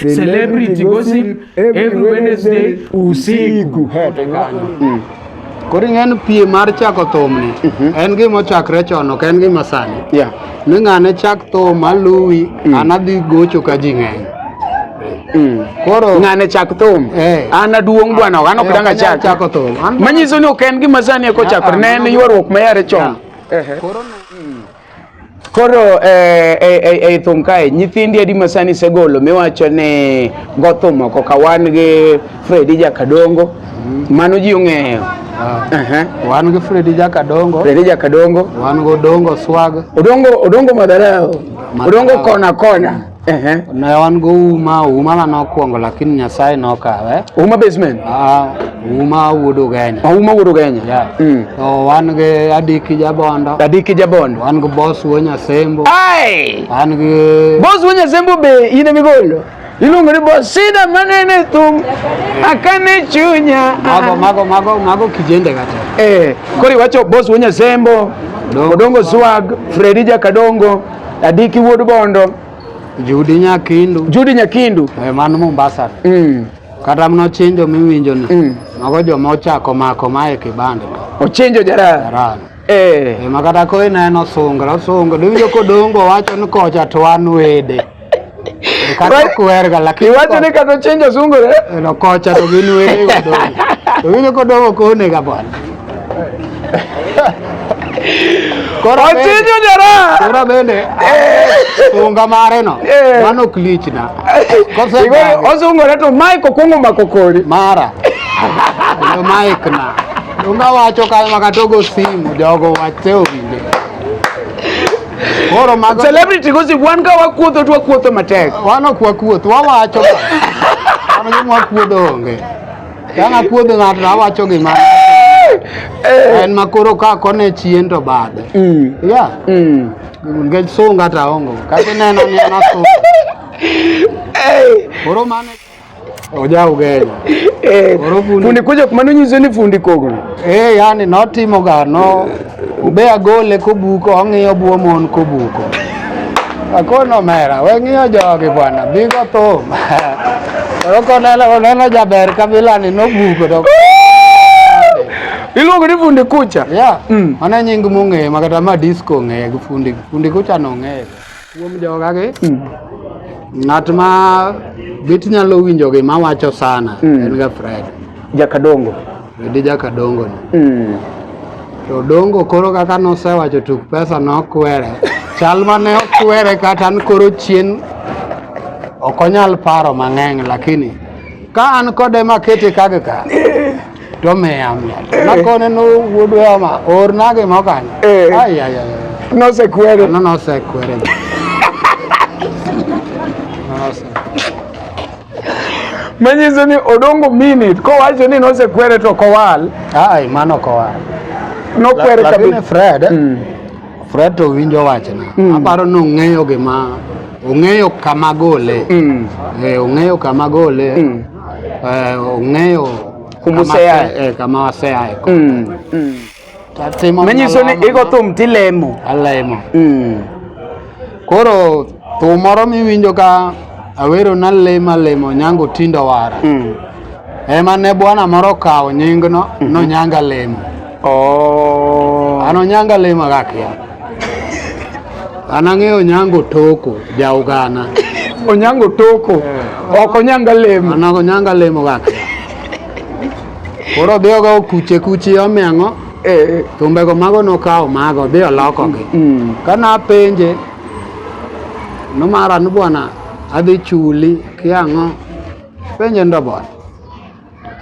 Celebrity gossip every Wednesday usiku. Mm. Koro ing'en pie mar chako thumni mhm. en gima ochakre chon ok en gima sani ni ng'ane chak thum aluwi mm. an adhi gocho ka ji ng'eny mm. koro ng'ane chak thum eh. an aduong' bwana an ok eh, danga chak manyiso ni ok en gima sani ekochakore ah, ah, ne en ywaruok mayare chon Koro eh, eh, eh, ei thum kae nyithindi adi masani segolo miwacho ni gothum oko ka wan gi Fredi Jakadongo mano ji ong'eyo Ah. Aha. wan gi fredi jakadongo Fredi Jakadongo wan gi odongo swag odongo odongo madharau Madharau. odongo kona kona Ehe. Ne wan go uma, uma ma nokwongo lakini Nyasaye nokawe. Uma basement. Ah, uma wuod Ugenya. Oh, uma wuod Ugenya. Yeah. Mm. So wan gi Adiki Jabondo. Adiki Jabondo. Wan gi Boss Wonya Sembo. Ai! Wan gi Boss Wonya Sembo be in e migolo. Iluongo ni Boss Sida manene thum. Akane chunya. Mago mago mago mago kijende kata. Eh, kori wacho Boss Wonya Sembo. Odongo Swag, Fredija Kadongo. Adiki wuod Bondo. Judi Nyakindu. Judi Nyakindu. E, man Mombasa. Mm. Kata mno chenjo miwinjo ni. Mm. Mago joma ochako mako mae kibande. Ochenjo jara. Jara. Eh. E, makata ko ineno sungra sungra. Diwinjo kodongo wacho ni kocha to an wede. Iwacho ni kata chenjo sungore. No kocha to gin were kodong. To winjo kodong ok onega bwana. Ochinjo jara. Koro bende sunga mare no. Eh. Mano ok lichna. Osungore to Mike okwongo mako kori. Mara. Yo Mike na. Unga wacho kama katogo simu jogo wache owinje. Koro mago celebrity gossip wan ka wakuotho to wakuotho matek. Wan ok wakuoth, wawacho. Wan gima wakuodho onge. Ka nakuodho ng'ato awacho gima eh. en makoro ka kone chien to bade. Mm. Yeah. Mm. Ngech sunga ta ongo. Kati neno ni ana sunga. Hey. Koro mane ojaugenya eh, fundi kuja kumano nyiso ni fundi kogno eh, yani notimo gano ube agole kobuko ong'iyo buo mon kobuko akono mera weng'iyo jogi bwana bigo thum koro koneno oneno jaber kabilani nobuko to iluongo ni fundi kucha yeah. mm. mano nying mong'eye makata ma disco ong'eye gi fundi fundi kucha nong'eye Kuom jogagi, mm. ng'at ma bit nyalo winjo gima wacho sana mm. en ga Fred. Jakadongo. Fredi Jakadongo ni. Mm. To dongo koro kaka nosewacho tuk pesa nokwere. Chal mane okwere kata an koro chien ok onyal paro mang'eny lakini ka an kode makete kagka to miya miya Eh. nakone no wuod weyama orna gimo kanyo Eh. ayaya Nosekwere. no nosekwere Manyiso ni odongo minute kowacho ni nosekwere to kowal. ai mano kowa Nokwere lakini kabisa. fred Mm. fred to winjo wachna Mm. aparo ni ong'eyo gima ong'eyo kama gole Mm. Eh, ong'eyo kama gole Mm. eh, ong'eyo kumuseyae eh, kama waseyae ko mm, mm. tatimo manyiso ni igo thum tilemo alemo mm. koro thum moro miwinjo ka awero nalemo alemo nyango tindo wara mm. ema ne bwana moro kawo nyingno mm -hmm. nonyanga lemo Oh. An Onyanga lima gakia. An ang'eyo Onyango Toko ja Uganda. Onyango Toko. Eh. Ok Onyanga lima. An Onyanga lima gakia. Koro dhi ogo kuche kuche omeng'o. Eh. Tumbego mago nokawo mago dhi olokogi. Mm. Kana apenje nomara ni bwana adhi chuli kiang'o penje ndo bwana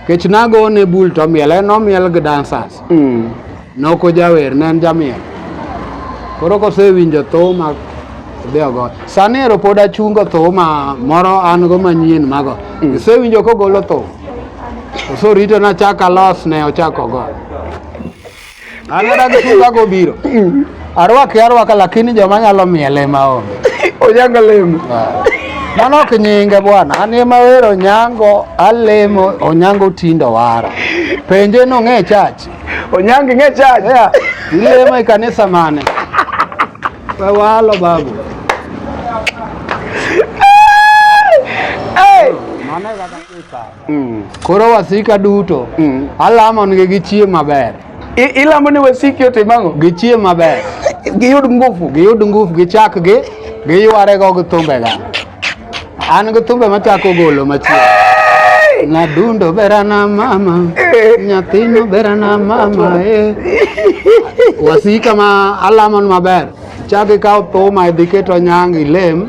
kech nago ne bul to miel en omiel gi dancers mm. noko jawer ne en jamiel koro kosewinjo thum deogo sani ero pod achungo thum moro an go manyien mago mm. isewinjo kogolo thum osorito nachak alos ne ochako go An adagi sunga gobiro. Arwaki arwaka lakini joma nyalo miele ma onge. Onyanga lemo. Ah. Mano ok nyinge bwana. An ema wero nyango alemo onyango tindo wara. Penje no ng'e church. Onyango ng'e church. Yeah. Ilemo e kanisa mane? Wawalo babu. Hey! Mano e kaka Mm. Koro wasika duto mm. alamongi gi chie maber. Ilamo ni wasiki ote mango? Gi chie maber. Giyud ngufu. Giyud ngufu, gichak gi, giyware go gi thumbe ga. An gi thumbe machako golo machie. Na dundo bera na mama, eh. nyathino bera na mama, eh. Wasika ma alamon maber. Chak ikaw thuma idhi keto nyang' ilem.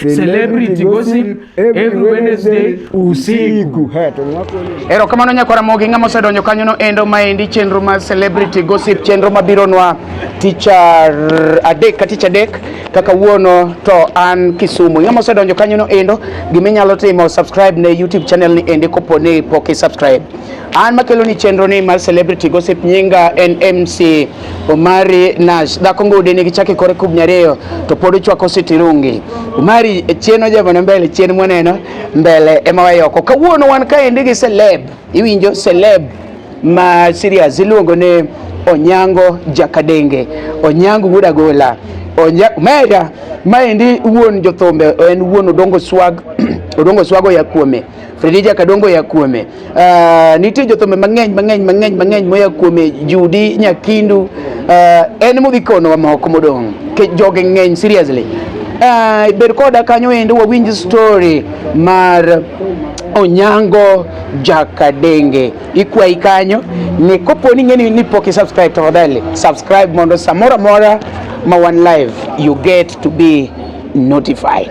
Celebrity gossip every Wednesday usiku. Ero kamano nyakwara mogi ng'ama osedonjo kanyo no endo maendi chenro ma celebrity gossip chenro mabiro nwa ticha adek ka ticha adek kaka wuono to an Kisumu. Ng'ama osedonjo kanyo no endo gima inyalo timo subscribe ne YouTube channel ni ende kopo ni pok i subscribe. An makelo ni chenro ni mar celebrity gossip nyinga en MC Omari Nash dhako ngude ni kichake kore kub nyariyo to pod ochwako sitirungi. Omari e chien ojabone mbele chien mwaneno mbele ema wayoko. Kawuono wan kaendi gi celeb. Iwinjo celeb ma serious iluongo ni Onyango Jakadenge. Onyango wuod agola. Onya Mera maendi wuon jothombe en wuon Odongo Swag Odongo Swago ya kuome. Fredija Kadongo ya kuome. Uh, nitie jothumbe mang'eny mang'eny mang'eny mang'eny moya kuome Judi Nyakindu uh, en modhi kono wa moko modong' ke joge ng'eny seriously. Uh, ber koda kanyo endo wawinj story mar Onyango Jakadenge ikwayi kanyo ni kopo ni ng'eni ni pok subscribe tafadhali subscribe mondo samora mora ma one live you get to be notified.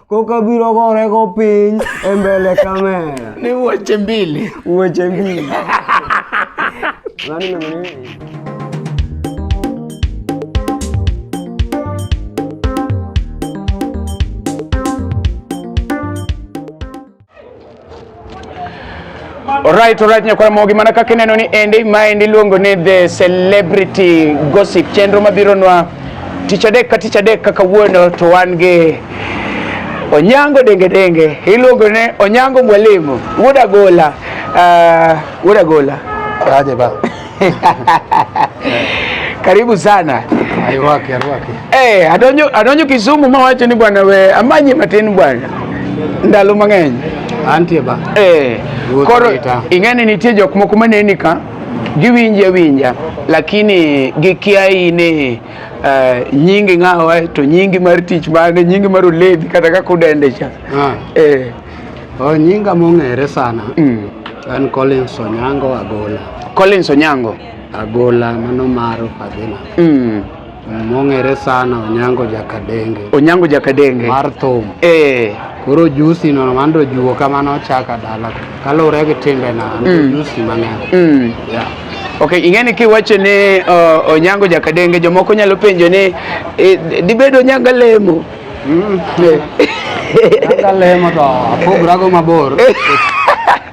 Koka biro gore go piny e mbele kamera. Ni weche mbili. Weche mbili. Nani nani? Alright, alright nyakwara mogi mana kaka ineno ni endi maendi iluongo ni the celebrity gossip chenro mabironwa tich adek ka tich adek kaka wuono to wan gi Onyango denge denge iluongo ne Onyango mwalimu wuod agola uh, wuod agola aje ba Karibu sana. Aiwake, aiwake. Eh, hey, adonyo adonyo Kisumu ma wacho ni bwana we amanye matin bwana. Ndalo mang'eny. Antie ba. Eh. Hey, koro ing'ani nitie jok moko maneni ka giwinje winja lakini gikia ine uh, eh, nyingi ng'awa to nyingi mar tich mane nyingi mar olevi kata kaka udende cha. Ah. Eh. Hey. Oh, nyinga mong'ere sana mm. en Collins Onyango Agola. Collins Onyango Agola mano maro Fadhina mm. mong'ere sana Onyango Jakadenge. Onyango Jakadenge mar thum eh. Koro jusi no mando juo kamano ochaka dala kaluwore gi timbe na mm. jusi mang'eny mm. yeah. Okay, ing'eni kiwacho ni uh, Onyango Jakadenge jomoko nyalo penjo ni eh, dibedo Onyango lemo Angalee moto apogrago mabor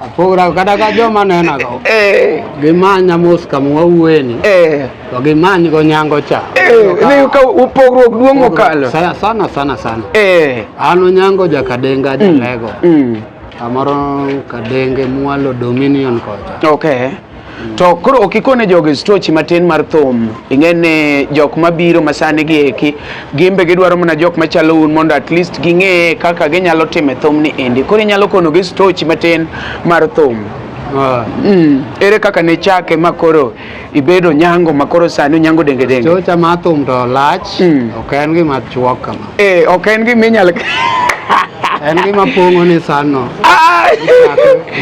apogrago kata ka joma nenago Eh, gimanya mos kama wawueni eh. to gimanygo nyango cha Eh, ni ka upogruok duong' mokalo. Sa- sana sana sana Eh. an onyango jakadenga jalego Mm. kamoro kadenge mwalo dominion kocha Okay. To koro ok ikone jogi stochi matin mar thum. Ing'e ni jok mabiro masani gi eki gimbe gidwaro mana jok machalo un mondo at least ging'e kaka ginyalo timo thum ni endi. Koro inyalo kono gi stochi matin mar thum. Ah. Mm. Ere kaka ne chake ma koro ibedo nyango ma koro sani onyango denge denge? Stocha ma thum to lach, mm. ok en gima chuok kama. Eh, ok en gima inyalo en gima pong'o ni sanno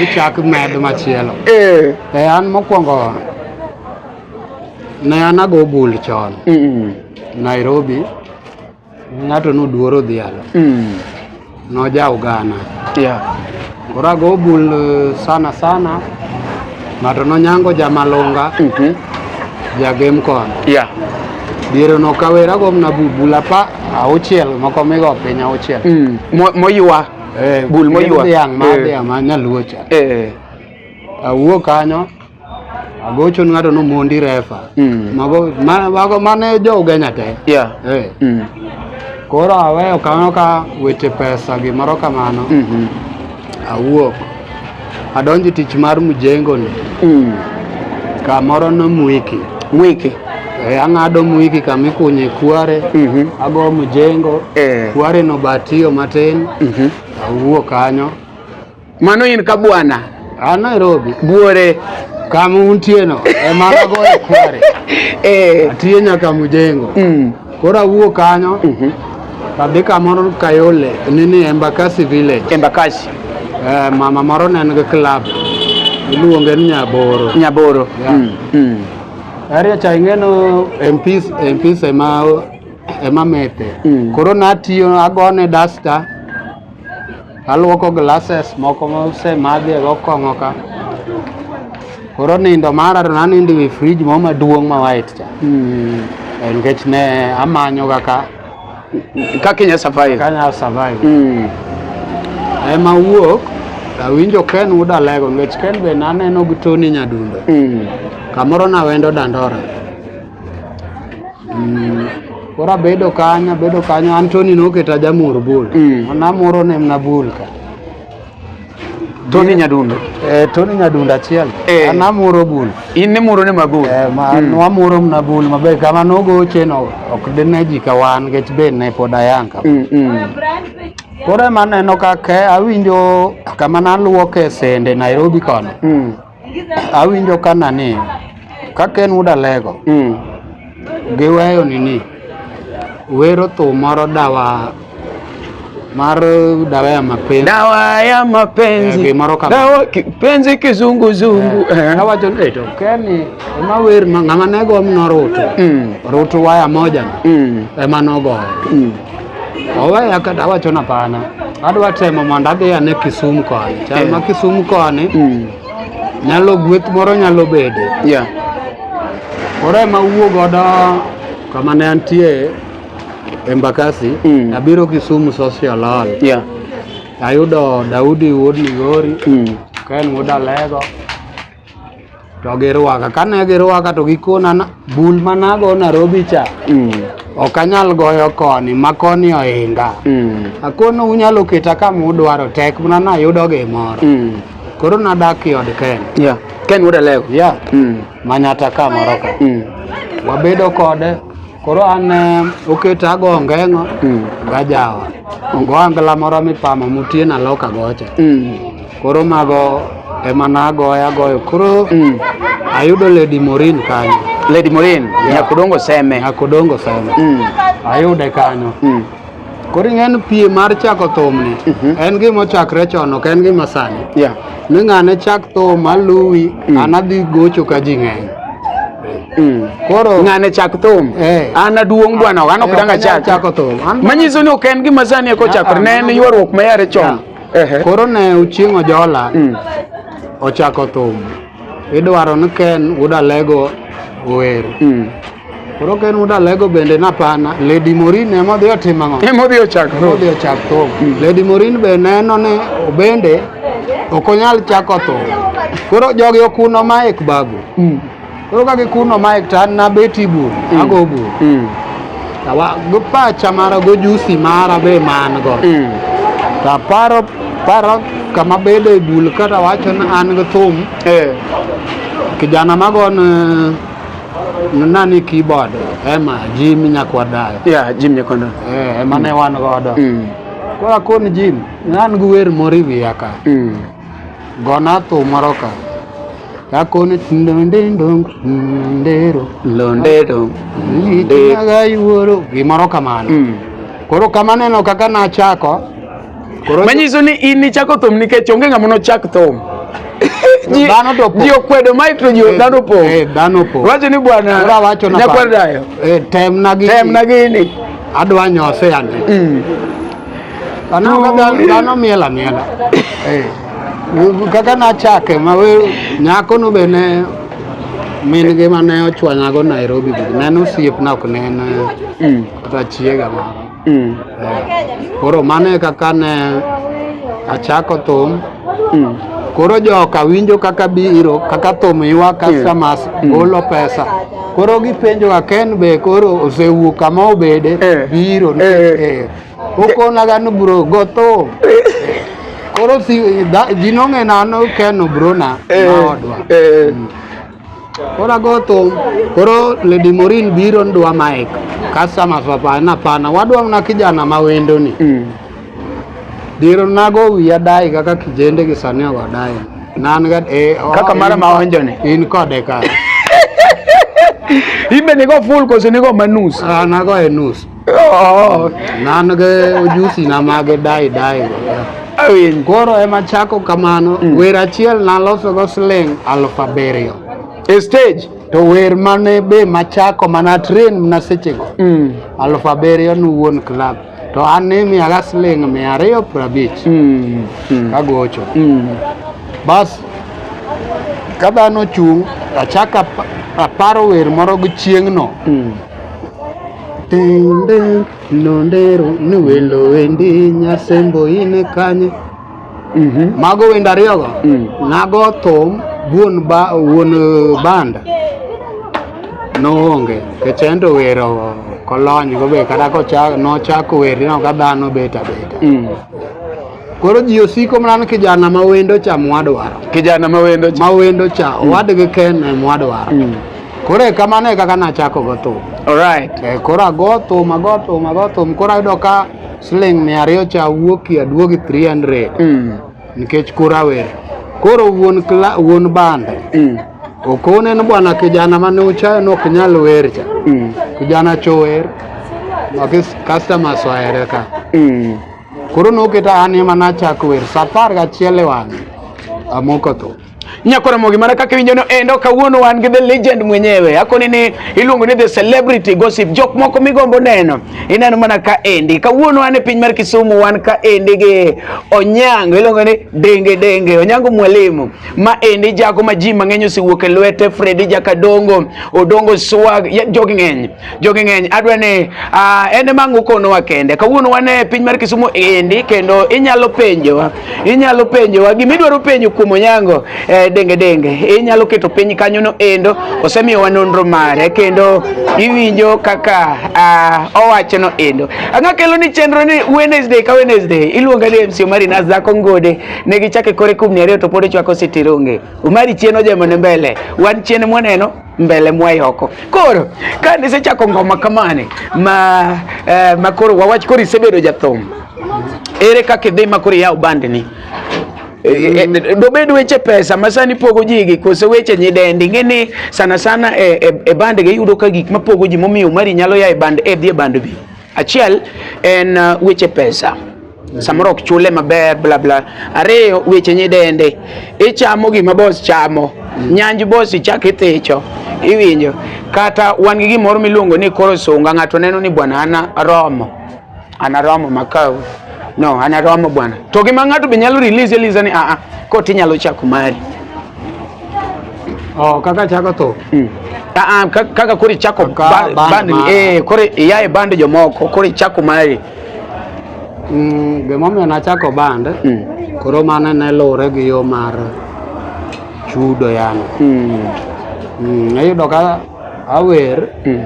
ichak med machielo eh. e an mokwongo ne an ago bul chon nairobi ng'ato noduoro dhialo mm. Nojaugana. Yeah. Koro ago bul eh, sana sana ng'ato nonyango jamalunga mm -hmm. jagem kono yeah. diere nokawera gomna bul apa auchiel moko migo piny auchiel mm. moywa eh, bul moywa dhiang' ma eh. dhiang' ma nyaluo cha eh. awuo kanyo agochon ng'ato nomondi refa Mm. mago ma- mago mane jo ugenya te Yeah. Eh, Mm. koro aweyo kamano ka weche pesa gimoro kamano Mhm. awuok adonjo e tich mar mjengoni Mm. kamoro no mwiki Mwiki. Eh, ang'ado mwiki kama ikunye kware Mhm. ago mjengo Eh. kware no batiyo matin Mhm. awuok kanyo Mano in ka bwana. A Nairobi. Buore. Kama untieno e mana goyo kware. Eh. Atiyo nyaka Mujengo. Mm. Koro awuok kanyo. Mm -hmm. Adhi kamoro Kayole nini Embakasi village. Embakasi. Eh, mama moro ne en gi club. Iluonge ni Nyaboro. Nyaboro. Yeah. Mm. Mm. Aria cha ing'eno MPs MPs ema ema mete. Mm. Koro natiyo agone duster Aluoko glasses moko mose madhi e gokong'o ka. Koro nindo mara to nanindo e fridge mo maduong' ma white cha. Mm. Eh, Nikech ne amanyo kaka Kaka inya survive. kanya survive. Mm. Ema wuok awinjo Ken uda lego nikech Ken be naneno gi Tony Nyadundo. Mm. Kamoro nawendo Dandora. Mm. Koro abedo kanyo, abedo kanyo, Anthony noketa jamur bul. Mm. Namuro ne mna bul ka. Tony Nyadundo. Eh, Tony Nyadundo achiel. Eh. An amuro bul. In nimuro ne mabul. Eh, ma mm. wamuro mna bul maber kama nogoche no ok dine ji ka wan nikech be ne pod ayang ka. Mm, mm. Koro ema neno ka ke awinjo kama naluoke sende Nairobi kono. Mm. Awinjo kana ni ka Ken Wood Alego Mm. giweyo nini wero thum moro dawa mar dawa ya mapenzi Dawa ya Eh, mapenzi. gimoro kama. Dawa kipenzi kizunguzungu. Eh. awacho ni to Ken ema wer ma- ng'ama nego mno rutu Mm. rutu waya moja no Mm. ema nogoyo Mm. oweya kata awacho na pana adwa temo mondo adhi ane Kisumu koni chal ma Kisumu koni mm. nyalo gweth moro nyalo bede yeah. koro ema wuo godo kama ne antie Embakasi mm. abiro Kisumu social hall yeah. ayudo Daudi wuod Migori mm. ka en wuod Alego to girwaka kane girwaka to gikona na- bul manago narobi cha Mm. ok anyal goyo koni ma koni ohinga Mm. akono unyalo keta kama udwaro tek mana nayudo gimoro Mm. koro nadak i od ken Yeah. Ken wuod Alego. ya Mm. manyata kamoro ka Mm. wabedo kode koro an eh, oketa ago ongeng'o Mm. gajawa go angla moro mipamo mutiena loka gocha Mm. Koro mago ema nagoya goyo. Koro mm. ayudo Lady Morin kanyo. Lady Morin, yeah. Nyakodongo Seme. Nyakodongo Seme. Mm. Ayude kanyo. Mm. Koro ing'en pie mar chako thumni mm -hmm. en gima ochakre chon ok en gima sani. Yeah. Ni ng'ane chak thum aluwi mm. an adhi gocho ka ji ng'eny. Mm. Koro ng'ane chak thum. Eh. An aduong' bwana, an ok eh, danga chak. Manyiso ni ok en gima sani eko ah, chakre. Ah, ne en ywaruok ma yare chon. Yeah. Koro ne uchieng' ojola mm. ochako thum idwaro ni Ken Wuod Alego ower. Mm. Koro Ken Wuod Alego bende napana Lady Morin ema odhi otimo ang'o? Ema odhi ochak thum. Odhi ochak thum. Mm. Lady Morin be neno ni bende ok onyal chako thum. Koro jogi okuno ma ek babu. Koro ka gikunno mic to an nabet i bur, mm. ago bur. Mm. Go pacha mara, go jusi mara be man go. Mm. To aparo, paro kama bedo e bul kata wacho ni an gi thum. Eh. Kijana mago ni nani keyboard ema Jim Nyakwadayo. Yeah, Jim Nyakwadayo. Eh, ema ne wan godo. Mm. Koro akoni Jim, an gi wer moro e wiya ka. Mm. Gona thum moro ka. Kakoni ndondendo ndero. Ndondero. Ndero. Yuoro gimoro kamano. Mm. Koro kamaneno kaka nachako. Koro manyiso ni in nichako thum nikech onge ng'ama nochak thum. dhano to ji okwedo mai to ji eh, dhano po eh dhano po wacho ni bwana ora wacho na nyakwar dayo eh tem na gi tem na gi ni adwa nyose ande mm. Dhano miel amiela. Eh. Kaka nachake ma nyako no be ne min gi ma ne ochwanyago Nairobi ne en osiepna ok ne en mm. kata chiega mara. Mm. Eh. Koro mano e kaka ne achako thum. Mm. Koro joka winjo kaka biro kaka thum ywa customers mm. golo pesa koro gipenjo ka Ken be koro osewuok kama obede eh. biro eh. eh. okonaga ni bro go thum koro si, da, ji nong'e nano Ken obrona eh. maodwa eh. mm. Koro ago thum, koro Lady Morin biro ndwa mic. Customers wapana pana, wadwa mna kijana ma wendo ni. Mm. Diro nago wiya dai kaka kijende gi sani ogo dai. Nan ga eh oh, Kaka mara in- maonjo ni. In kode ka. Imbe nigo full kose nigo manus. Ah, nago e nus. nan gi ujusi na mag dai dai awinj koro ema chako kamano mm. wer achiel naloso go siling aluf abiriyo e stage to wer mane be machako mana train na sechego mm. aluf abiriyo ni wuon club to an ni miyaga siling mia ariyo prabich mm. mm. kagocho mm. bas ka dhano chung' achako aparo wer moro gi chieng'no mm. Tende nondero ni welo wendi nyasembo ine kanye. Mhm. Mago wendo ariyogo Mm. nago thum wuon ba, wuon eh, banda noonge kech en to wero kolony go be kata kocha- nochako wer ineno ka dhano bet abeta Mm. Koro ji osiko mana ni kijana ma wendo cha mwadwaro. Kijana ma wendo cha. Ma wendo cha, mm. owadgi Ken e mwadwaro. Mm. Koro e kamano e kaka nachako go thum. Alright. E, eh, koro ago thum, ago thum, ago thum. Koro ayudo ka siling mia ariyo cha wuoki aduogi 300. Mm. Nikech koro awer. Koro wuon, kla, wuon bande. Mm. Okone ni bwana kijana mane uchayo nok nyal wer cha. Mm. Kijana chower. Makis customers waere ka. Mm. Koro noketa an ema nachako wer sa apar gachiel e wang'e amoko tho. Nyakora Mogi mana kaka iwinjono endo kawuono wan gi the legend mwenyewe akoni ni iluongo ni the celebrity gossip jok moko migombo neno ineno mana ka endi kawuono wan e piny mar Kisumu wan ka endi gi Onyango iluongo ni Denge Denge Onyango Mwalimu ma endi jago ma ji mang'eny osewuok e lwete Freddy Jakadongo Odongo Swag ya- jogi ng'eny jogi ng'eny adwa ni uh, en ema ang' ukonowa kende kawuono wan e piny mar Kisumu endi kendo inyalo penjowa inyalo penjowa gima idwaro penjo kuom Onyango eh, denge denge inyalo keto piny kanyo no endo osemiyowa nonro mare kendo iwinjo kaka uh, owacho no endo ang'a kelo ni chenro ni Wednesday ka Wednesday iluonga ni MC Omari Nas dhako ngode ne gichake kore kumni ariyo to pod ichwako sitironge Omari chien ojemo ne mbele wan chien mwaneno mbele mwayi oko koro ka nisechako ngoma kamane ma, eh, ma koro wawach koro isebedo jathum ere kaka idhi ma koro iyaw bandni E, e, e, dobed weche pesa ma sani pogo ji gi kose weche nyidendi ing'e ni sana sana e, e, e band gi yudo ka gik mapogo ji momiyo mari nyalo ya e band e dhi e band bi achiel en uh, weche pesa samoro ok chule maber bla bla. Ariyo, weche nyidende, ichamo gima bos chamo, nyanj bos ichak ithicho, iwinjo. Kata wan gi gimoro miluongo ni koro sunga, ng'ato neno ni bwana ana romo, ana romo makau. No, ana romo bwana. To gima ng'ato be nyalo release eliza ni aa, koti nyalo chako mari. Oh, kaka chako to. Mm. Aa, kaka kori chako bandi, eh, kori yae bandi jomoko, kori chako mari. Mm, gimomiyo nachako band mm. koro mano ne luwre gi yo mar chudo yani mm. mm, iyudo ka awer mm.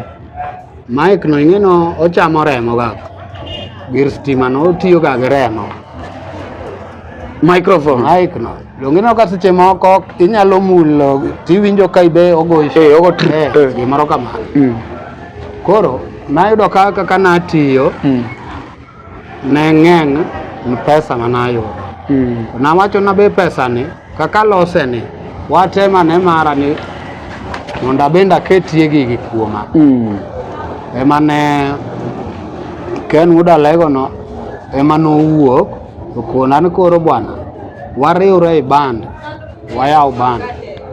mike no ing'eno ochamo remo ga gir stima no otiyo ga gi remo microphone mike no dongineno ka seche moko inyalo mulo tiwinjo ka ibe ogoyo eh, eh. gimoro kamano mm. koro Nayudo ka kaka natiyo mm. ne ng'eng' ni pesa ma nayudo mm. nawacho na be pesa ni kaka lose ni watema ne mara ni mondo abende aketie gigi kuoma mm. ema ne Ken Wuod Alegono ema nowuok okona ni koro bwana wariwre e band wayaw band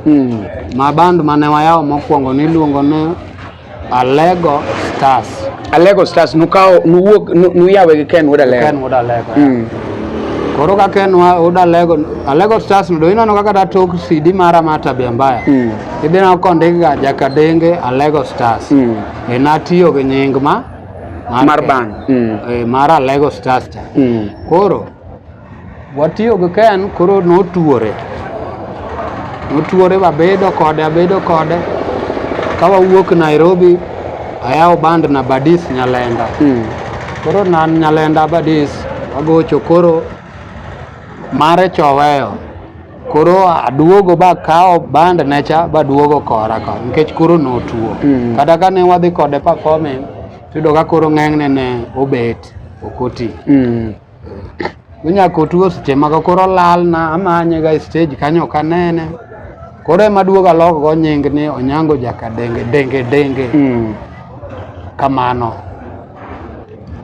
mm. ma band mane wayaw mokwongo niluongo ni Alego Stars. Alego Stars nukawo nuwuok nuyawe gi Ken Wuod Alego. Ken Wuod Alego. Mm. Koro ka Ken Wuod Alego Alego Stars ndo ineno kaka da tok CD mara ma tabia mbaya. Mm. Idhi na kondik ga Jakadenge Alego Stars. Mm. E natiyo gi nying ma mar band. Mm. E, mar Alego Stars. Mm. Koro Watiyo gi Ken koro notuore, notuore wabedo kode abedo kode ka wawuok Nairobi ayawo band na Badis Nyalenda mm. koro nan Nyalenda Badis wagocho koro mare choweyo koro aduogo ba kawo band necha baduogo kora ka nikech koro notuo mm. kata ka ne wadhi kode performing tudo ka koro ng'eng'ne ne obet okoti mm. Onyako tuo seche mago koro lalna amanye ga stage kanyo ok anene. Koro ema duogo alok go nying ni Onyango Jaka Denge Denge Denge. Mm. Kamano.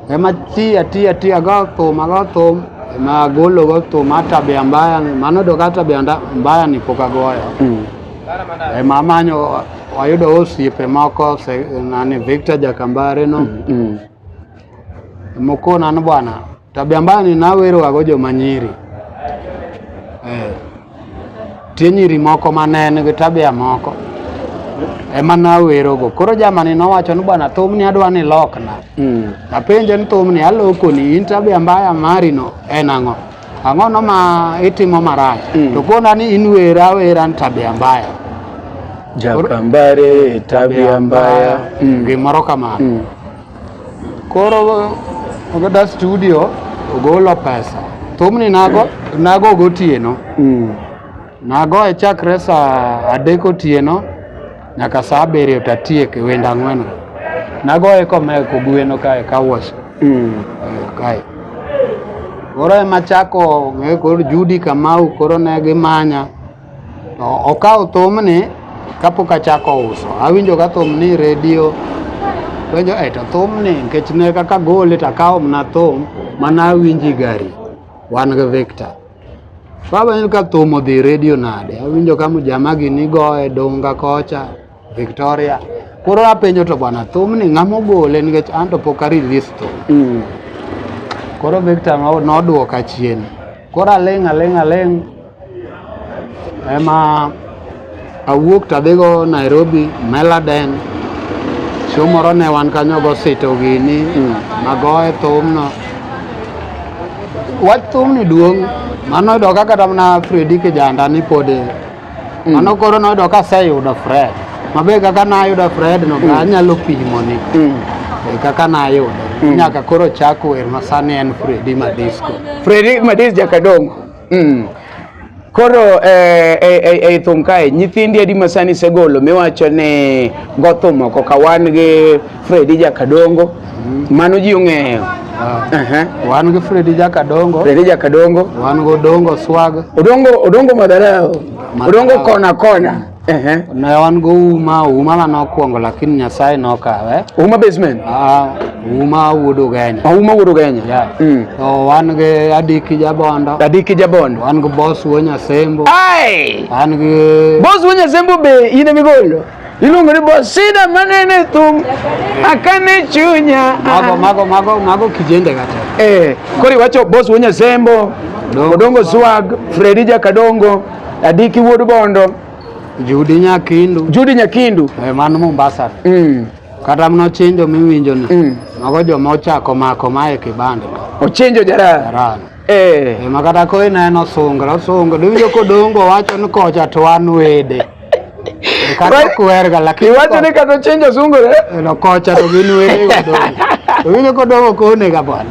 Ema tiya tiya tiya go thum ago thum ema agolo go thum ata be ambaya ni mano do kata be anda- ambaya ni pok agoyo. Mm. Ema amanyo ayudo osiepe moko se- nani Victor Jakambare no. Mm. Mokonan bwana, tabia mbaya ninawerowago joma nyiri eh. Tie nyiri moko manen gi tabia moko ema nawerogo. Koro jamani nowacho ni bwana, thumni adwa ni lokna. Mm. Apenje ni thumni alokoni, in tabia mbaya marino en ang'o? Ang'ono ma itimo marach? Mm. To kona ni in wera awera ni tabia mbaya. Jakambare tabia mbaya. Mm. Gimoro kamano. Mm. Koro ogada studio ogolo pesa thumni nago nago gotieno mm. nago e chakre saa adek otieno nyaka saa abiriyo tatiek e wenda ang'wen nago e kome kogweno kae kawash mm. kae koro ema chako koro Judy Kamau koro ne gimanya To okawo thumni kapok achako uso. Awinjoga thum ni redio penjo e to thumni nikech ne kaka gole to akawo mana thum mana awinji gari wan gi Victor. Kawenjo ka thum odhi redio nade, awinjo ka mjamagi ni goye dunga kocha. Victoria. Koro apenjo to bwana thum ni ng'ama ogole nikech an to pok a release thum. Mm. Koro Victor no- nodwoka chien. Koro aling' aling' aling' ema awuok tadhigo Nairobi, Meladen. Chieng' moro ne wan kanyo go sito gini, Mm. nagoye thumno. Wach thumni duong', mano yudo ka kata mana Fredi kijanda ni pod Mm. Mano koro noyudo ka aseyudo Fred. Mabe kaka nayudo Fred no mm. anyalo pimo ni. Mm. E kaka nayudo. Mm. Nyaka koro chak wer ma sani en Freddy Madisco. Freddy Madisco Jakadongo. Mm. Koro eh, eh, eh, ei thum kae nyithindi adi masani segolo miwacho ni gothum oko ka wan gi Fredi Jakadongo mano ji ong'eyo Ehe. wan gi fredi jakadongo Fredi Jakadongo wan gi odongo swag Odongo Odongo Madharao Odongo kona kona Ehe. ne wan gi uma uma ma nokwongo lakini nyasaye nokawe Uma basement Ah, uma wuod ugenya Uma Wuod Ugenya Yeah. Mm. to wan gi adiki jabondo Adiki Jabondo wan gi bos wuo nyasembo Ai! wan gi Boss Wenya Zembo be in e migolo Iluongo ni boss sida manene thum akane chunya. Mago mago mago mago kijende kata. Eh, koro iwacho boss wonya sembo. Odongo swag, Freddy Jakadongo, Adiki Wuod Bondo, Judi Nyakindu. Judi Nyakindu. Eh, mano Mombasa. Mm. Kata mno chinjo miwinjo ni. Mm. Mago joma ochako mako mae kibanda. Ochinjo jarani. Jarani. Eh. Eh, ma kata ko ineno sungra osungra diwinjo kodongo wacho ni kocha to wan wede Eh, kata Right. ok werga lakini Iwacho ni kata chenjo sungo eh? ko- no kocha to gin wede godongo to winjo kodongo konega bwana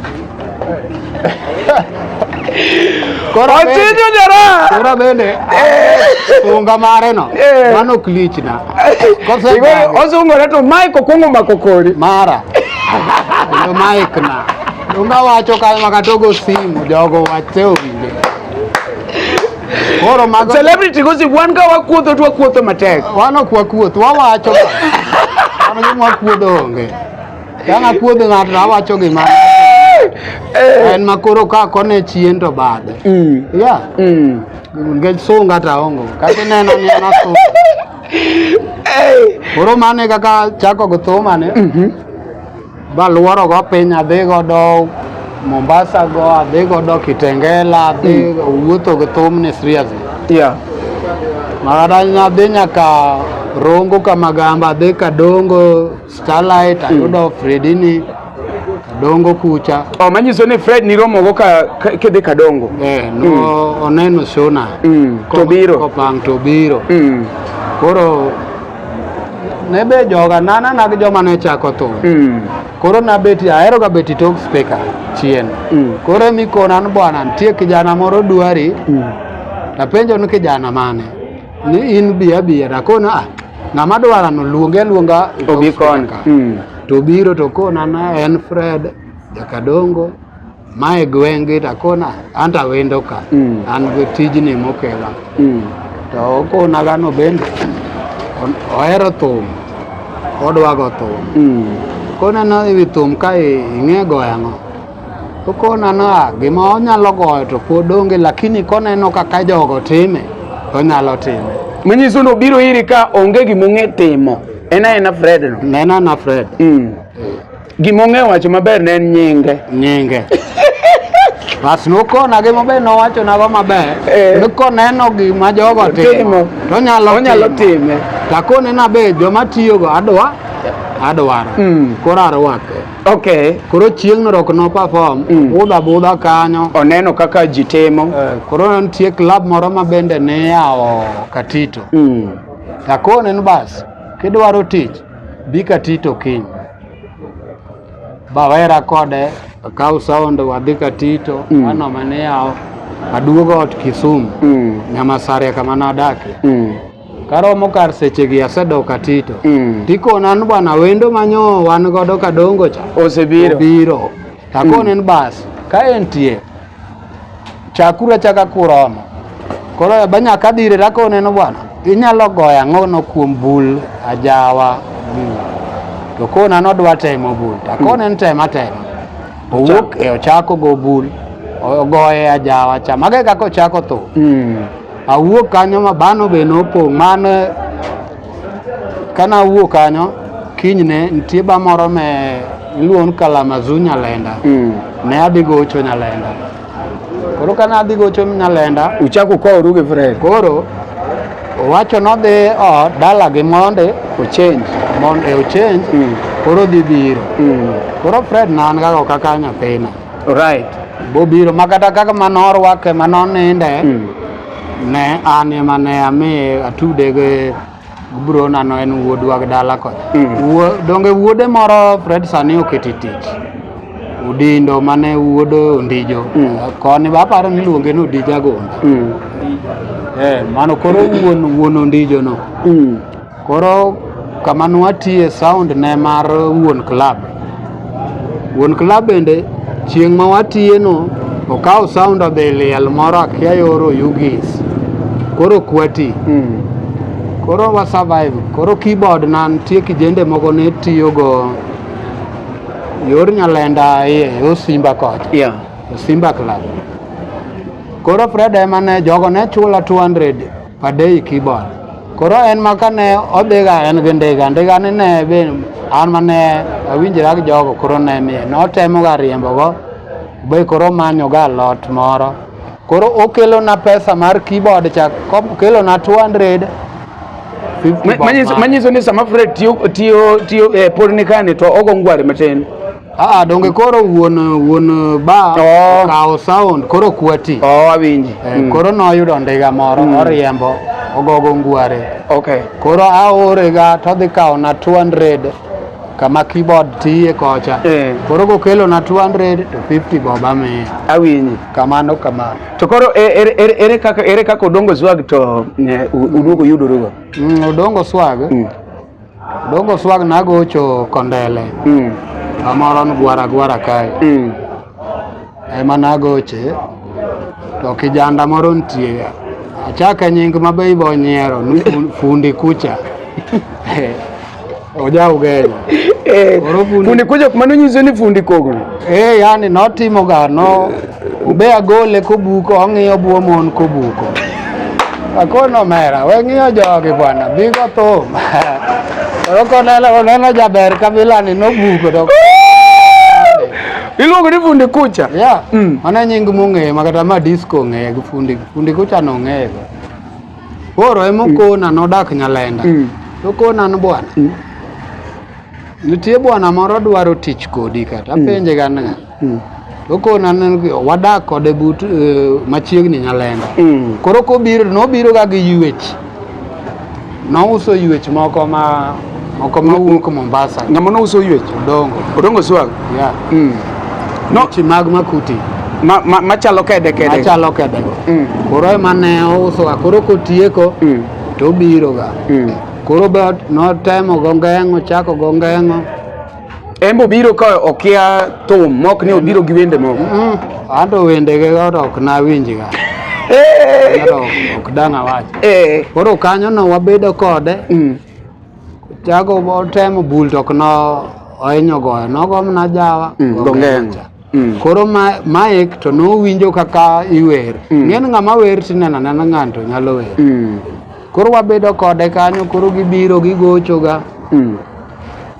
Koro bende- Ochinjo jara. koro bende sunga mare no Eh. mano ok lichna Kose Iwe bagi. osungore to Mike okwongo mako kori. mara kendo maikna Donga wacho ka makatogo simu jogo wache owinje. Koro mago Celebrity gosi wan ka wakuotho to wakuotho matek. wan ok wakuoth, wawacho ka. Wan gima wakuodho onge. Ka nakuodho ng'ato to awacho gima en ma koro ka kone chien to bade. Mm. Yeah. Mm. Nikech sunga ta ongo. Kata ineno ni en asunga. Hey. Koro mano e kaka chako gi thumane. Baluoro go piny adhi godo Mombasa go adhi godo Kitengela adhi wuotho gi thumni seriously. Yeah. Mara nadhi nyaka Rongo kama gamba adhi Kadongo Starlight ayudo Fredini Kadongo kucha. Oh, manyiso ni Fred niromogo ka ka- kidhi Kadongo. Eh, no oneno shona. Mm, to biro. Kopang to biro. Mm. Koro ne be joga nana na gi joma ne chako thum mm. koro nabeti ahero ga beti tok speaker chien mm. koro mikona ni bwana nitie kijana moro dwari mm. napenjo ni kijana mane ni in biya biya nakona ah, ng'ama dwara no luonge aluonga obi kona mm. to biro to kona na en fred jakadongo Mae gweng' gi takona anto awendo ka mm. an gi tijni mokela mm. to okona gano bende ohero thum odwago thum mm. koneno ewi thum ka ing'e goyo ang'o okona no ah, gima onyalo goyo to pod onge lakini koneno kaka jogo time onyalo time manyiso ni obiro iri ka onge gima ong'e timo en aena fred no nena na fred mm. Gima ong'eyo wacho maber ne en nyinge. Nyinge. Bas nokona gi maber nowacho nago maber. Eh. Ni koneno gima jogo Timo. timo. To onyalo Onyalo time. Takone na be joma tiyogo adwa adwaro. Mm. Koro arwake. Okay. Koro chieng'no rok no perform. Mm. Budha budha kanyo. Oneno kaka ji timo. Eh, Koro nitie club moro ma bende ne yawo Katito. Mm. Takone ni bas kidwaro tich Bika Tito kiny bawera kode akaw sound wadhi ka Tito mm. anoma ni yawo aduogo ot Kisumu mm. Nyamasaria kama nadake mm. karomo kar sechegi asedok ka Tito mm. tikona ni bwana wendo manyo wan godo kadongo cha osebiro obiro takone mm. ni bas ka entie Chakuru achaka kuromo. Koro eba nyaka adhire rakone no bwana. Inyalo goyo ang'o no kuom bul ajawa. Mm. To kona nodwa temo bul. To akone ni tema tema. Owuok e ochako go bul. Ogoye ajawa cha. Mago e kaka ochako thum. Mm. Awuok kanyo ma bano be nopong'. Mano Kana wuok kanyo kinyne nitie ba moro me luon Kalamazu Nyalenda. Mm. Ne adhi gocho Nyalenda. Koro kana adhi gocho Nyalenda. Uchako kwa oruge Fred. Koro owacho nodhi ot dalagi monde ochange monde ochange mm. koro dhi biro mm. koro Fred na an kaka kaka nyathina right bobiro makata kaka manorwake manoninde mm. Ne an ema ne ami atude gi bro nano en wuodwa gi dala kocha. Wuo- Donge wuode moro Fred sani oketi tich. Udindo mane wuodo Ondijo. Koni be aparo ni iluonge ni Odija Gonda. Eh, mano koro wuon wuon Ondijo no. Koro kama nwatiye sound ne mar wuon club. Wuon club bende chieng' ma watiye no okawo sound odhi liel moro akia yoro Ugis. Koro kwati. Mm. Koro wa survive. Koro keyboard na nitie kijende moko ne tiyo go yor nyalenda iye Osimba kocha. Yeah. Osimba club. Koro Fred ema ne jogo ne chula 200 Padei Kibon. Koro en ma kane odhiga en gi ndiga, ndiga ni ne be an ma ne awinjra gi jogo koro ne ni notemoga riembogo be koro manyoga lot moro. Koro okelona pesa mar keyboard cha okelona 200 Manyiso ni sama Fred tiyo tiyo tiyo eh, pod nikani to ogo ngwari matin. Ah, donge koro wuon wuon ba oh. kawo sound koro kwati. Oh, awinji. Eh, mm. Koro noyudo ndiga moro mm. oriembo ogogo ngware. Okay. Koro aore ga to dhi kawo na 200 kama keyboard tiye kocha. Eh. Koro kokelo na 200 to 50 boba mi. Awinji. Kamano kamano. To koro e, ere ere ere kaka ere kaka odongo swag to ne uduogo yudorugo. Mm, odongo swag. Mm. Dogo swag nagocho kondele mm. amoro ni gwara gwara kae mm. ema nagoche to kijanda moro nitie achaka nying mabe ibo nyiero ni fundi kucha oja ugenya eh, fundi kucha mano nyiso ni fundi kogno eh yani notimoga no Be agole kobuko ong'iyo buo mon kobuko. Akono mera, we ng'iyo jogi bwana, bigo thum. Koro koneno oneno jaber kabila ni nobuko to. Iluongo ni fundi kucha? Yeah. Mm. Mano e nying mong'eyo ma kata ma disco ong'eyo gi fundi fundi kucha nong'eyo. Koro ema okona nodak Nyalenda. Mm. Okona ni bwana. Nitie bwana moro dwaro tich kodi kata apenje ga niya. Mm. Okon aneno wadak kode but uh, machiegni Nyalenda. Mm. Koro kobiro nobiro ga gi yuech. Nouso yuech moko ma moko ma wuok Mombasa. Ng'ama nouso yuech? Odongo. Odongo swag. Yeah. Mm. No. Yuech mag makuti. Ma, ma, machalo kede kede. Machalo kede. Mm. Koro ema ne ouso ga koro kotieko mm. to obiroga. Mm. Koro be notemo go ngeng'o chako go ngeng'o En be obiro ka okia thum mok ni obiro gi wende moko. Mm, Anto wende ge godo ok nawinji ga. Koro ok dang' awach. Eh. Koro kanyo no wabedo kode. Mm. Chago temo bul to ok no ohinyo goyo. Nogo mana jawa. Mm, gongengo. Mm. Koro ma, Mike to nowinjo kaka iwer. Mm. Ng'en ng'ama wer tineno anena ng'anto nyalo wer. Mm. Koro wabedo kode kanyo, koro gibiro gigochoga. Mm.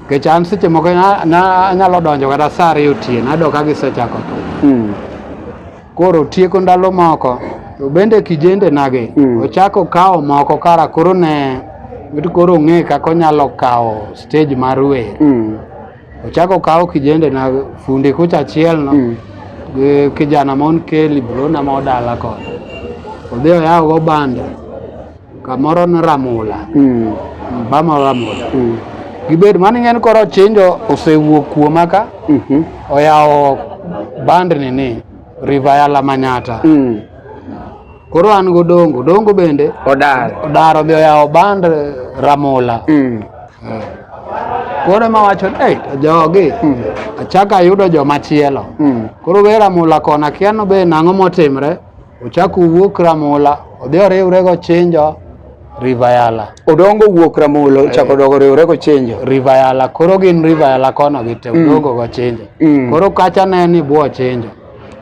Kech an seche moko anyalo donjo kata sa ariyo otieno, ayudo ka gisechako to. Mm. Koro tieko ndalo moko, to bende kijende nage, mm. ochako kawo moko kara koro ne, koro ong'e kaka onyalo kawo stage mar wer. Mm. Ochako kawo kijende na fundi kucha achiel no mm. gi kijana mon keli bro na ma odala ko odhi oyawo go banda kamoro ne ramula mm. bama ramula mm. gibed mani ng'en koro chinjo osewuok kuoma ka mm -hmm. oyawo bandni ni river ya lamanyata mm. Koro an go dongo, dongo bende odar odar odhi oyawo band Ramola. Mm. Eh. Koro ema wacho ni hey, jogi mm. achaka ayudo joma chielo. Mm. Koro we Ramola kona kiano be nang'o motimre. Ochako wuok Ramola odhi oriwre go chinjo Rivayala. Odongo wuok Ramola eh. ochako dogo riwre go chinjo. Rivayala koro gin Rivayala kono gi te mm. odongo go chinjo. Mm. Koro kacha ne ni buo chinjo.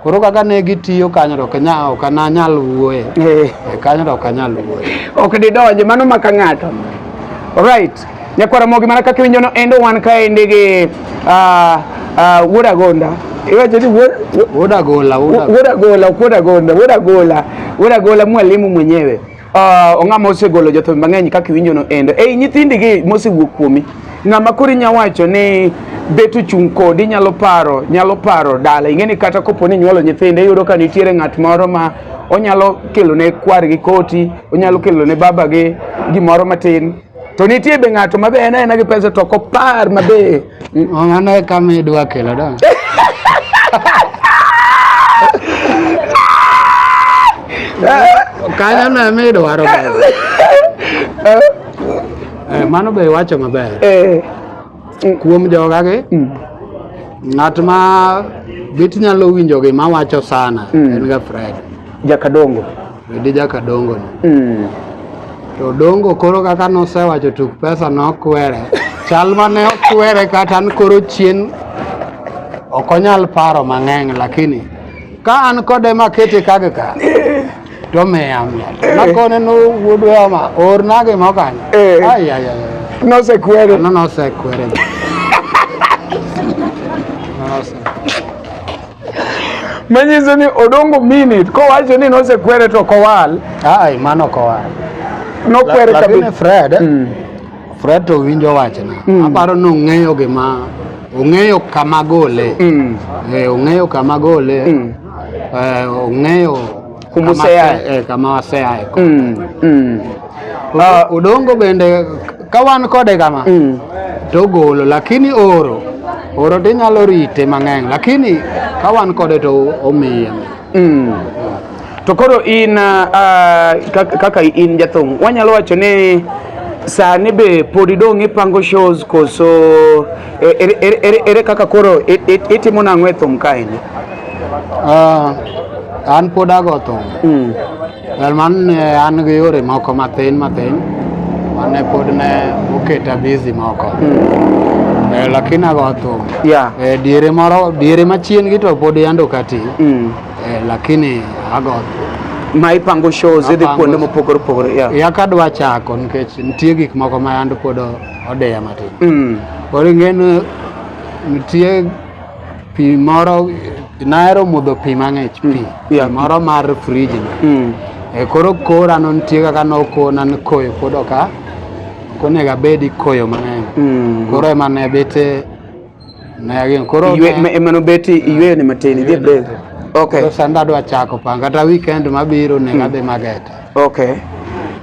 Koro kaka ne gitiyo kanyo to kanya ok ananyal wuoye. Eh. E kanyo to ok anyal wuoye. Ok didonje mano maka ng'ato. Alright. Nyakwara mogi mana kaka winjo no endo wan kaendi gi uh, uh, Wuod Agonda. Iwacho ni Wuod Agola, Wuod Agola, Wuod Agonda, Wuod Agola, Wuod Agola mwalimu mwenyewe. Uh, ong'ama osegolo jothum mang'eny kaka iwinjono endo ei nyithindigi mosewuok kuomi ng'ama koro inya wacho ni bet ochung' kodi inyalo paro nyalo paro dala ing'e ni kata kopo ni nyuolo nyithindo iyudo ka nitiere ng'at moro ma onyalo kelo ne kwargi koti onyalo kelo ne babagi gimoro matin To nitie be ng'ato mabe en aena gi pesa to kopar mabe. Mano e kama idwa kelo da. Kanyo na mi idwaro. Eh, mano be iwacho maber. Eh. mm. kuom jogagi mm. ng'at ma bit nyalo winjo gi mawacho sana mm. en ga Fred Jakadongo Fredi Jakadongo ni mm. to Dongo koro kaka nosewacho tuk pesa nokwere chal mane okwere kata an koro chien ok onyal paro mang'eny lakini ka an kode makete kage ka to miya miya Eh. nakone no wuod weyama orna gima kanyo Eh. ayaya Nosekwere. no nosekwere Nose- Manyiso ni odongo minute kowacho ni nosekwere to kowal. ai mano kowa Nokwere La- lakini kabisa. fred Mm. fred to winjo wachna Mm. aparo ni ong'eyo gima ong'eyo kama gole Mm. Eh, ong'eyo kama gole Mm. uh, ong'eyo kumoseaye eh, kama waseaye kode mm, mm. Uh, udongo bende ka wan kode kama mm. to golo lakini oro oro to inyalo rite mang'eny lakini ka wan kode to omiye mm. to koro in uh, kaka in jathum wanyalo wacho ni sani be pod idong' ipango shows koso E, ere, ere, ere, ere kaka koro i- i- itimo nang'o e thum kaendi? Ah, an pod ago thum Mm. Well, man ne an gi yore moko mathin mathin mane pod ne oketa busy moko Mm. Eh, lakini ago thum Yeah. Eh, diere moro diere machien gi to pod yando kati Mm. Eh, lakini ago thum Ma ipango shows idhi Apango. kuonde mopogore opogore. Yeah. ya kadwa chako nikech nitie gik moko ma yand pod odeya matin mm. koro ing'eno nitie pi moro nahero modho pi mang'ich pi mm. pi moro mar friji no mm. e koro kora no nitie kaka nokona ni koyo pod oka okonego abedi koyo mang'eny koro ema ne bete Na gin koro Ywe- ne- ma- emano beti iyweyo ni matin idhi e break okay koro sanda adwa chako pang kata weekend mabiro onego adhi mageta okay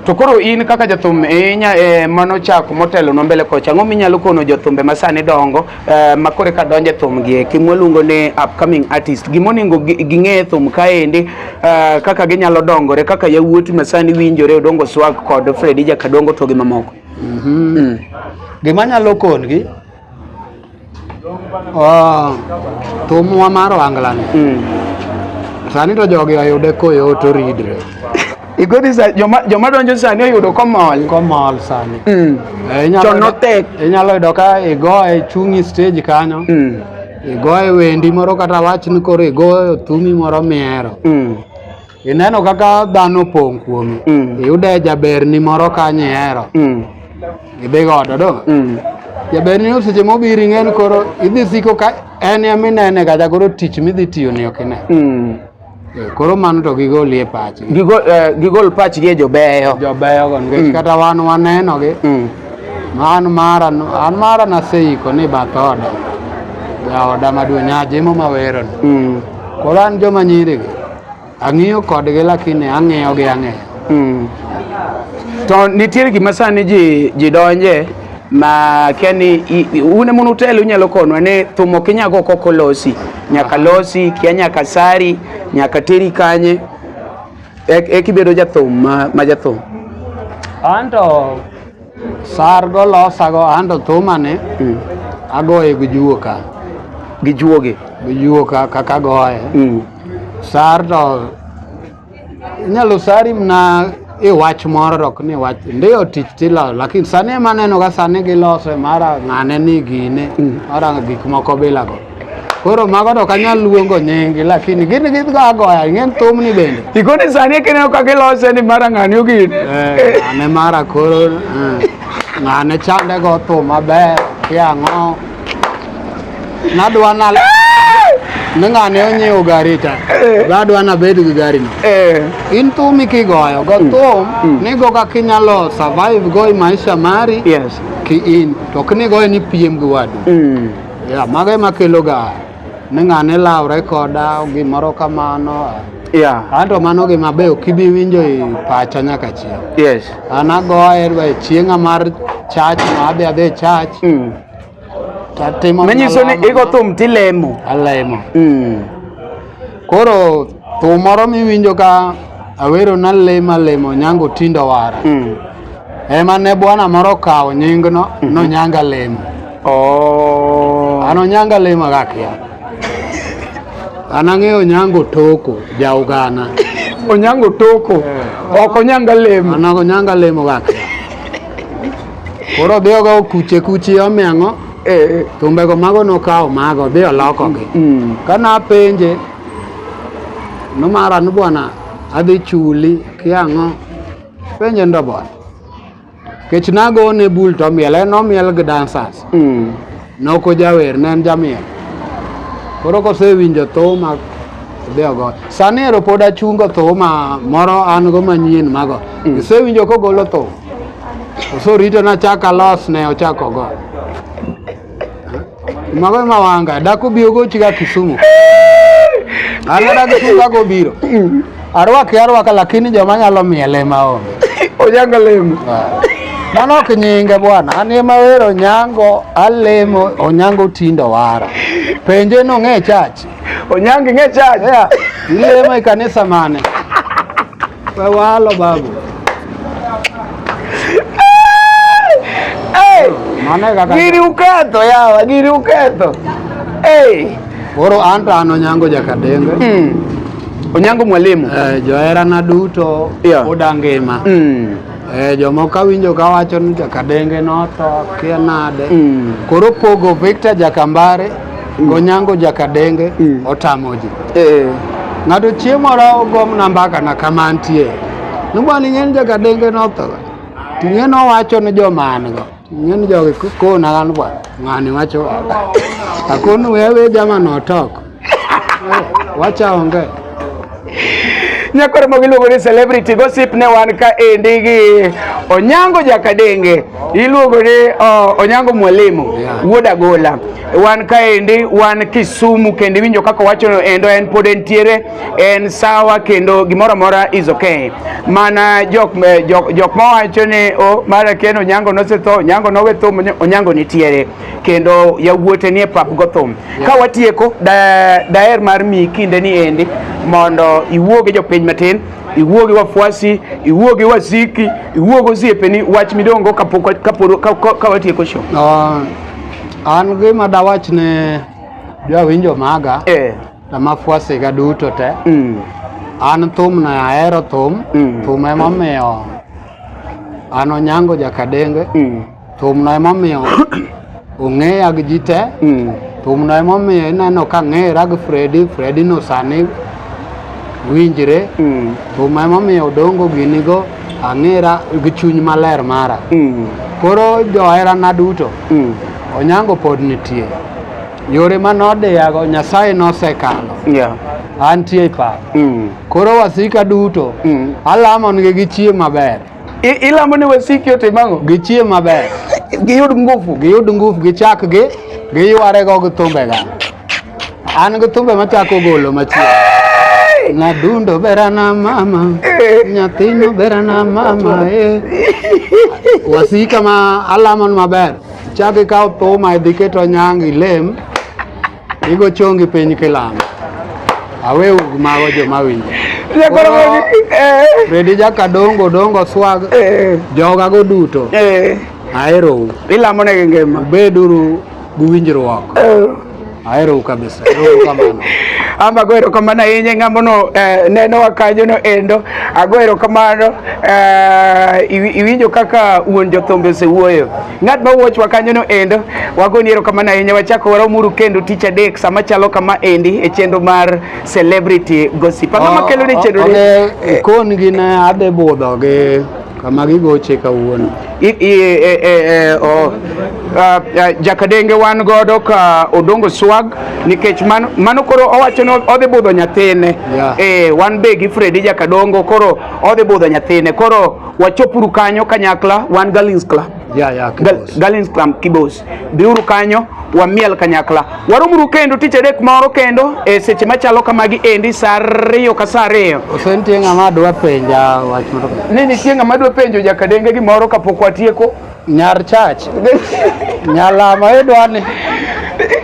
to koro in kaka jathum inya eh, mano chako motelo no mbele kocha ang'o minyalo kono jothumbe ma sani dongo eh, ma kore ka donje thum gi eki mwaluongo ni upcoming artist gimoningo gi- ging'e e thum kaendi eh, kaka ginyalo dongore kaka yawuoti ma sani winjore odongo swag kod fredi jakadongo to gi mamoko Mhm. gima nyalo kongi Oh, thumwa mar wanglani mm. sani to jogi oyude koyot oridre igodi sa joma joma donjo sani oyudo komol komol sani mm. e, inyalo notek inyalo yudo ka igoye chungi stage kanyo mm. igoye wendi moro kata wachni koro igoyo thumi moro mihero mm. Ineno kaka dhano opong' kuomi. Mm. Iyude jaberni moro kanyo ihero. Mm. Idhi godo do. Mm. Jaberni no seche mobiro ing'eni koro idhi siko ka en ema inene kata koro tich midhi tiyo ni ok ine. Mm. Eh, Koro mano to gigoli e pachgi. Gigol, eh, gigol pachgi e jobeyo. Jobeyo go nikech Mm. kata wan wanenogi. Mm. Ma an mara no- an mara naseiko ni bath oda. Jaoda maduong' Nyajimo maweroni. Mm. Koro an joma nyirigi. Ang'iyo kodgi lakini ang'iyo gi ang'iyo. Mm. To nitiere gima sani ji ji donje ma kia ni i- i- un ema unutelo unyalo konwa ni thum ok inya go kok olosi nyaka losi kia nyaka sari nyaka teri kanye e- ekibedo jathum ma, ma jathum Anto Sargo losago ando thumani mm. agoye gi juoka. Gi juogi? Gi juoka kaka agoye. Mm. Sar to inyalo sari mna e wach moro rok ni wach ndiyo tich tilo lakini sani ema aneno ka sani gilose mara ng'ane ni gine mm. mara gik moko bilago Koro mago to kanyal luongo nyingi lakini gin gidgo agoya ing'en thumni bende. Ikoni sani kineno kaka ilose ni mara ng'ani ogin. Eh, ng'ane mara koro eh, ng'ane chande go thum maber kiang'o. Nadwa na ni ng'ane onyiewo gari ta eh. badwa nabed gi gari no eh. in thumi kigoyo go hmm. thum hmm. nigo kaka inyalo survive go i maisha mari yes. ki in to ok nigoyo ni piem gi wadu mm. Yeah, mago ema keloga ni ng'ane lawre koda gimoro kamano. Yeah. Anto mano gima be ok ibi winjo e pacha nyaka chieng'. Yes. An agoye dwa e chieng'a mar chach ma adhi adhi e chach Mm. tatimo Manyiso ni igo thum tilemo. alemo. Mm. Koro thum moro miwinjo ka awero nalemo alemo nyango tindo wara. Mm. ema ne bwana moro okawo nyingno mhm. nonyanga lemo oh. an onyanga lemo akakia an ang'eyo onyango toko jaugana onyango toko eh. ok onyanga lemo an ok onyanga lemo kakia koro odhi ogo kuche kuchi omeng'o eh. thumbego mago nokawo mago odhi olokogi mm. ka napenje nomara ni bwana adhi chuli kiang'o Penye ndobon. Kech nago ne bul to miel en omiel gi dancers. Mm. Noko jawer ne en jamiel. Koro kosewinjo thuma odhi ogo. Sani ero pod achungo thuma moro an go manyien mago. Mm. Isewinjo kogolo thum. Osorito nachak alos ne ochako go. Mago ma wanga dako bi ogo chiga Kisumu. Ana dako Kisumu dako biro. Arwaki arwaka lakini joma nyalo miele ma onge. Onyanga lemo. Mano ok nyinge bwana, an ema wero nyango alemo onyango tindo wara. Penje no ng'e chach. Onyangi ng'e chach. Yeah. Ilemo e kanisa mane? Walo babu. Hey! Mane kaka. Giri uketho yawa, giri uketho. Hey! Koro anta an Onyango Jakadenge. Mm. Onyango mwalimu. Eh, joherana duto Yeah. oda ngima. Mm. Eh, jomoko awinjo ka wacho ni jakadenge notho kia nade mm. koro pogo Victor Jakambare mm. Onyango Jakadenge mm. otamo ji eh. ng'ato chieng' moro ogom na mbaka na kama ntie nobwa ni ng'en Jakadenge notho ting'e nowacho ni joma an go Ng'en jogi kona an bwa ng'ani wacho akonu wewe jama notok wacha onge nyakoro mogo iluongo ni celebrity gossip ne wan ka endi gi onyango jakadenge iluongo ni onyango mwalimu wuod agola wan ka endi wan kisumu kendo iwinjo kaka wachono endo en pod entiere en sawa kendo gimoro amora is okay. Mana jok eh, jok, jok mawacho ni oh, mara ken Onyango nosetho, Onyango nowe thum, Onyango nitiere kendo yawuote nie pap go thum. Yeah. Ka watieko da, daer mar mi kinde ni endi mondo iwuo gi jopiny matin iwuo gi wafuasi, iwuo gi wasiki, iwuo gi osiepeni, wach midongo kapok kaporo ka watieko show. Uh, an gima dawach ne jawinjo maga. Eh. to mafuasiga duto te Mm. an thum na ahero thum Mm. thum emomiyo an onyango jakadenge Mm. thumno emomiyo ong'eya gi ji te Mm. thumno emomiyo ineno ka ng'era gi fredi fredi no sani winjre Mm. thum emomiyo odongo ginigo ang'era gi chuny maler mara Mm. koro joherana duto Mm. onyango pod nitie Yore ma nodiyago Nyasaye nosekalo. Yeah. Antie e pap. Mm. Koro wasika duto. Mm. Alamo nigi gi chiemo maber. I, ilamo ni wasiki otim ang'o? Gi chiemo maber. Giyud nguvu. Giyud nguvu gichak gi giyware go gi thumbega. An gi thumbe machako golo machielo. Na dundo berana mama, eh. nyathino berana mama eh. Wasika ma alamon maber. Chak ikaw thuma idhi ket onyang ilem, igo chongi piny kilamo. Awe ug mago joma winjo. Jakoro Koro- eh, Redi jaka dongo dongo swag eh, joga go duto. eh, Aherou. ilamo ne gi ngima. Beduru gi winjruok. Eh. Ahero u kabisa. Erokamano. Ama ah, ago erokamano ahinya ng'amono eh, nenowa kanyono endo. Ago ah, erokamano eh, iwinjo kaka wuon jothumbe osewuoyo. Ng'at ma wuochwa kanyono endo, wagoni erokamano ahinya. Wachako waromuru kendo tich adek sama chalo kama endi e chenro mar Celebrity Gossip. Ang'o ma oh, kelone chenro ni? Oh, okay. Kon gin adhi budho gi kama gigoche kawuono e, e, e, uh, jakadenge wan godo ka odongo swag nikech mano, mano koro owacho ni odhi budho nyathine yeah. e, wan be gi fredi jakadongo koro odhi budho nyathine koro wachopuru kanyo kanyakla wan galins club yeah, yeah, kibos. Gal, galins club kibos Dhiuru kanyo wamiel kanyakla. Waromuru kendo tich adek moro kendo e seche machalo kamagi endi saa ariyo ka saa ariyo. Ose nitie ng'ama dwa penja wach moro. Ni nitie ng'ama dwa penjo jakadenge gimoro kapok watieko. Nyar chach. Nyalama idwani.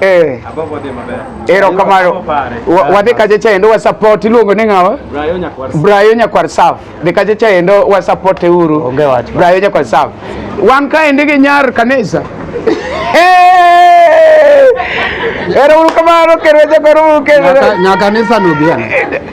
Eh. Erokamano. Wadhi kacha chaendo wa support iluongo ni ng'awa? Brayo Nyakwar Saf. Dhi kacha chaendo wa support uru. Onge wach. Brayo Nyakwar Saf. Wan kaendi gi nyar kanisa. Ero uru kamano kendo jakwar uru kendo. Nyakanisa no bien.